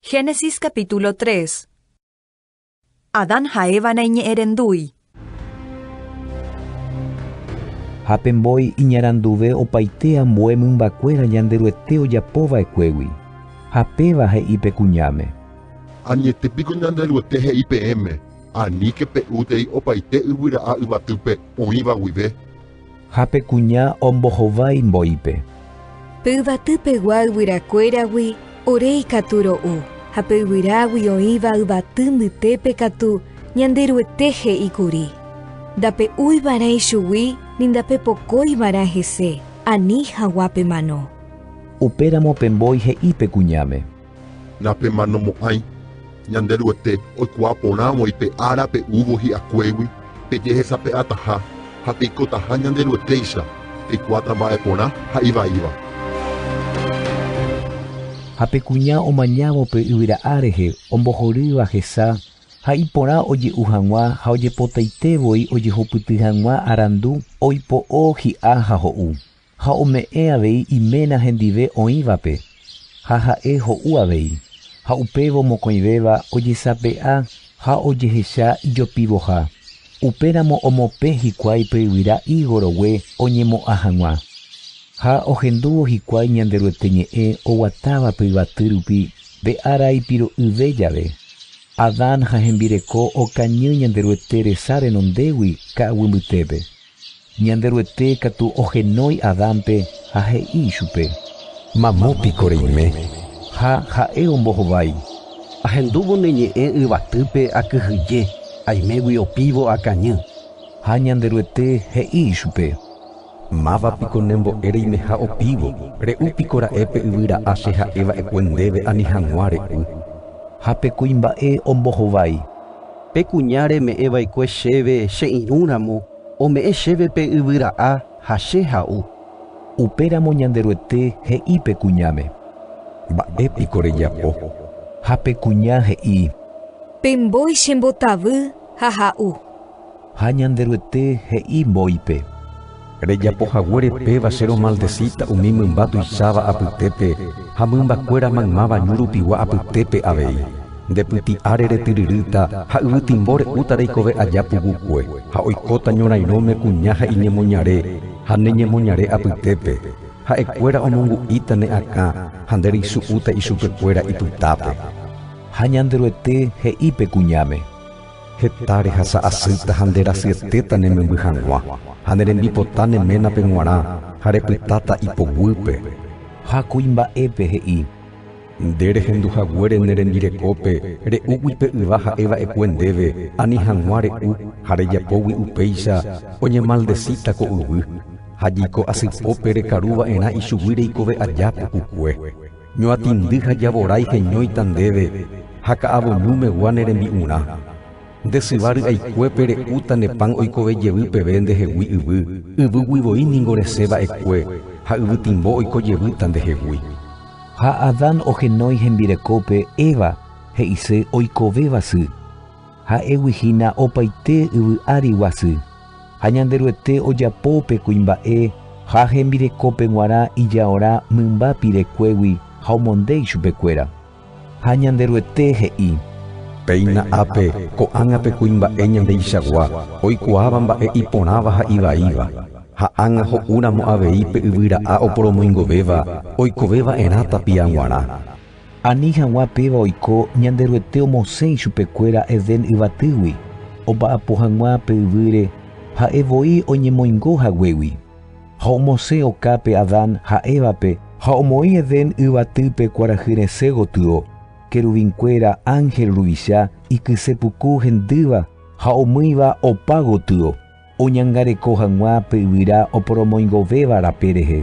Génesis capítulo 3 Adán ha Eva naiñe'ẽrendúi. Ha pe mbói iñaranduve opaite ambue mymbakuéra Ñanderuete ojapo va'ekuégui. Ha péva he'i pe kuñáme. Añete piko Ñanderuete he'i peẽme, Aníke pe'útei opaite yvyra'a yvatýpe oĩva guive. Ha pe kuña ombohovái mboýpe. Pe yvaty pegua yvyrakuéragui ore ikatu ro'u, ha pe yvyrágui oĩva yvaty mbytépe katu ñande Ruete he'i kuri, Ndape'úi va'erã ichugui ni ndapepokói va'erã hese ani haguã pe mano. Upéramo pe mbói he'i pe kuñáme. Napemanomo'ãi Ñanderuete oikuaa porã voi pe ára pe'úvo hi'akuégui pejehesape'ataha ha peikotaha Ñanderuetéicha, peikuaáta mba'e porã ha ivaíva. Ha pe kuña omañávo pe yvyra A rehe, ombohorýva hesa, ha iporã oje'u hag̃ua ha ojepotaite voi ojehupyty hag̃ua arandu, oipo'o hi'a ha ho'u. Ha ome'ẽ avei iména hendive oĩvape, ha ha'e ho'u avei, ha upévo mokõivéva ojesape'a ha ojehecha ijopivoha, upéramo omopẽ hikuái pe yvyra higo rogue oñemo'ã hag̃ua. Ha ohendúvo hikuái Ñanderuete ñe'ẽ oguatáva pe yvaty rupi pe ára ipiro'ỹve jave. Adán ha hembireko okañy Ñanderuete resa renondégui ka'aguy mbytépe. Ñanderuete katu ohenói Adánpe ha he'i ichupe. Mamo piko reime. Ha ha'e ombohovái. Ahendúvo ne ñe'ẽ yvatýpe akyhyje, aimégui opívo akañy. Ha Ñanderuete he'i ichupe. Máva piko ne mbo'e reimeha opívo? Re'u piko ra'e pe yvyra'a che ha'e va'ekue ndéve ani hag̃ua re'u. Ha pe kuimba'e ombohovái. Pe kuña reme'ẽ va'ekue chéve che irũ ramo, ome'ẽ chéve pe yvy ra'a ha che ha'u. Upéramo Ñanderuete he'i pe kuñáme, Mba'e piko rejapo? Ha pe kuña he'i. Pe mbói chembotavy ha ha'u. Ha Ñanderuete he'i mbóipe. Rejapo haguére péva che romaldesíta umi mymba tuicháva apytépe ha mymbakuéra maymáva ñu rupigua apytépe avei. Nde pyti'a reretyryrýta ha yvytimbo re'úta reikove aja pugukue, ha oikóta ñorairõme kuña ha iñemoñare ha ne ñemoñare apytépe, ha'ekuéra omongu'íta ne akã ha nde reisu'úta ichupekuéra ipytápe. Ha Ñanderuete he'i pe kuñáme. Heta rehasa asýta ha nde rasyetéta ne memby hag̃ua, ha ne rembipota ne ménape g̃uarã, ha repytáta ipoguýpe. Ha kuimba'épe he'i. Nde rehendu haguére ne rembirekópe, re'úgui pe yva ha'e va'ekue ndéve, ani hag̃ua re'u, ha rejapógui upéicha, oñemaldesíta ko yvy. Ha jeiko asy pópe rekaru va'erã ichugui reikove aja pukukue. Ñoatĩndy ha javorái heñóita ndéve ha ka'avonu megua ne rembi'urã. Nde syva ry'aikuépe re'úta ne pan oikove jevy peve nde hegui yvy, yvýgui voi ningo resẽ va'ekue ha yvytimbo oiko jevýta nde hegui. Ha Adán ohenói hembirekópe Eva he'ise oikovéva sy, ha'égui hína opaite yvy ári guasy. Ha Ñanderuete ojapo pe kuimba'e ha hembirekópe g̃uarã ijaora mymba pirekuégui ha omonde ichupekuéra. Ha Ñanderuete he'i. Péina ápe, ko'ág̃a pe kuimba'e Ñandeichagua oikuaáva mba'e iporãva ha ivaíva, ha ág̃a ho'úramo avei pe yvyra'a oporomoingovéva oikove va'erã tapia g̃uarã. Ani hag̃ua péva oiko Ñanderuete omosẽ ichupekuéra Edén yvatýgui, omba'apo hag̃ua pe yvýre ha'e voi oñemoingo haguégui. Ha omosẽ okápe Adán ha Évape ha omoĩ Edén yvatýpe kuarahy resẽ gotyo, keruvinkuéra, ánhel ruvicha, ikyse puku hendýva ha omýiva opa gotyo, oñangareko hag̃ua pe yvyra oporomoingovéva rape rehe.